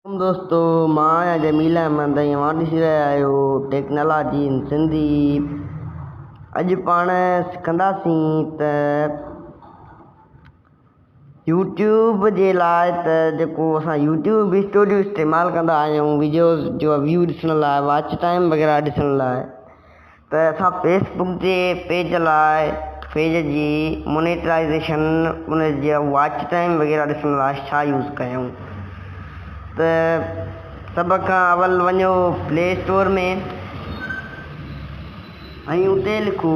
عليڪم دوستو مان آهيان جميل احمد ۽ اوهان ڏسي رهيا آهيو ٽيڪنالاجي ان سنڌي اڄ پاڻ سکنداسين ته يوٽيوب جي لاء ته جيڪو اسان يوٽيوب ويسٽو جو استعمال ڪندا آهيون ويڊيوز جو ويو ڏسڻ لاء واچ ٽائيم وغيره ڏسڻ لاء ته اسان فيس بڪ جي پيج لاء پيج جي مونيٽرائيزيشن ان جي واچ ٽائيم وغيره ڏسڻ لاء ڇا يوز ڪيون ته سڀ کان اول وڃو پلي اسٽور ۾ ۽ اتي لکو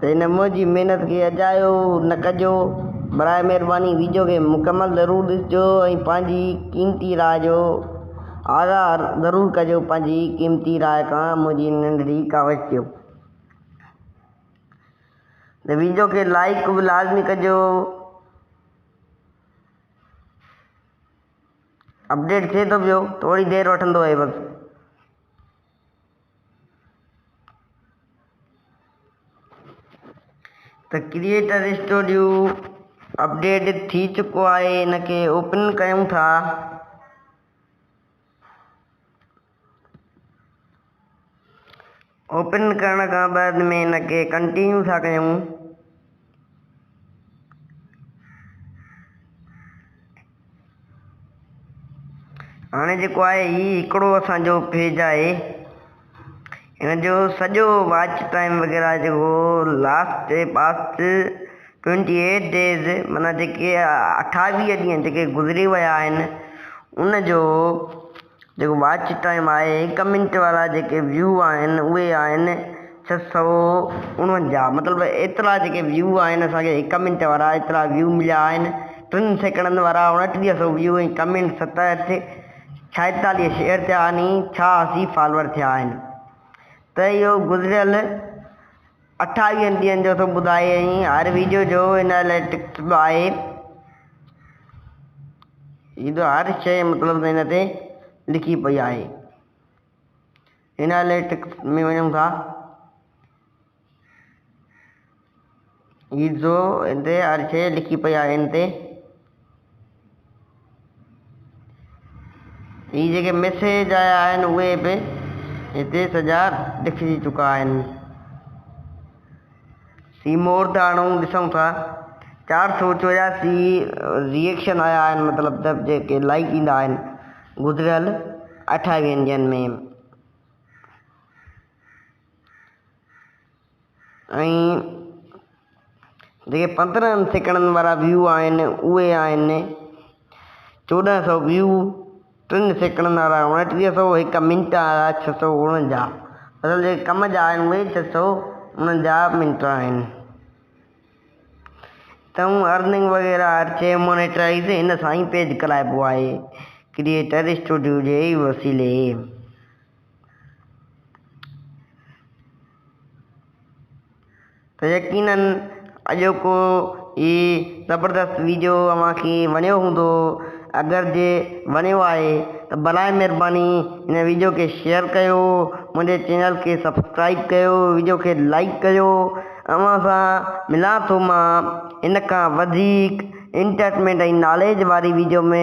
ته هن منهنجي محنت کي اجايو نه ڪجو براء مهرباني ويڊيو کي مڪمل ضرور ڏسجو ۽ پنهنجي قيمتي راء جو آگاهه ضرور ڪجو پنهنجي قيمتي راء کان منهنجي ننڍڙي ڪاوش ٿيو ته ويڊيو کي لائيڪ به لازمي ڪجو اپڊيٽ ٿئي ٿو پيو ٿوري دير وٺندو اهي بس ته ڪريئيٽر اسٽوڊيو اپڊيٽ ٿي چڪو آهي ان کي اوپن ڪيون ٿا. اوپن ڪرڻ کان بعد ۾ ان کي ڪنٽينيو ٿا ڪيون. هاڻي جيڪو آهي هي هڪڙو اسان جو پيج آهي هن جو سڄو واچ ٽائيم وغيره جيڪو last past twenty eight days مانا جيڪي اٺاويهه ڏينهن جيڪي گذري ويا آهن ان جو جيڪو واچ ٽائيم آهي، هڪ منٽ وارا جيڪي ويو آهن اهي آهن ڇهه سؤ اڻونجاهه مطلب ايترا جيڪي ويو آهن اسان کي هڪ منٽ وارا ايترا ويو مليا آهن ٽن سيڪڙن وارا اڻٽيهه سؤ ويو ۽ ڪمينٽ ستهٺ ڇائيتاليهه شيئر ٿيا آهن ڇا اسي فالور ٿيا آهن ته اهو گذريل اٺاويهن ڏينهن جو ٿو ٻڌائي ۽ هر ويڊيو جو ان الائي ٽڪٽ به آهي ايندو هر شيء مطلب ته هن تي لکي پئي آهي هن الائي ٽڪٽ ۾ وڃون ٿا ايندو هن تي هر شيء لکي پئي آهي هن تي هي جيڪي ميسيج آيا آهن اهي به هتي سڄا لکجي چڪا آهن سي مور تي هاڻي ڏسون ٿا چار سو چورياسي ريئيڪشن آيا آهن مطلب ته جيڪي لائڪ ايندا آهن گذريل اٺاويهن ڏينهن ۾ ۽ جيڪي پندرهن سيڪڙن وارا ويو آهن اهي آهن چوڏهن سؤ ويو، ٽن سيڪڙن وارا اڻٽيهه سؤ، هڪ منٽ وارا ڇهه سؤ اڻنجاهه. مطلب جيڪي ڪم جا آهن اهي ڇهه سؤ اڻنجاهه منٽ آهن. تون ارننگ وغيره هر شيء مونيٽرائيز هن سان ئي پيد ڪرائبو آهي ڪريئيٽر اسٽوڊيو جي وسيلي. ته يقيناً اڄوڪو هي زبردست ويڊيو اوهان کي وڻيو هوندو اگر جي وڻيو آهي ته برائي مهرباني هن ويڊيو کي شيئر ڪيو منهنجي چينل کي سبسڪرائيب ڪيو ويڊيو کي لائيڪ ڪيو اوهان سان ملان ٿو مان هن کان وڌيڪ انٽرٽمينٽ ۽ ناليج واري ويڊيو ۾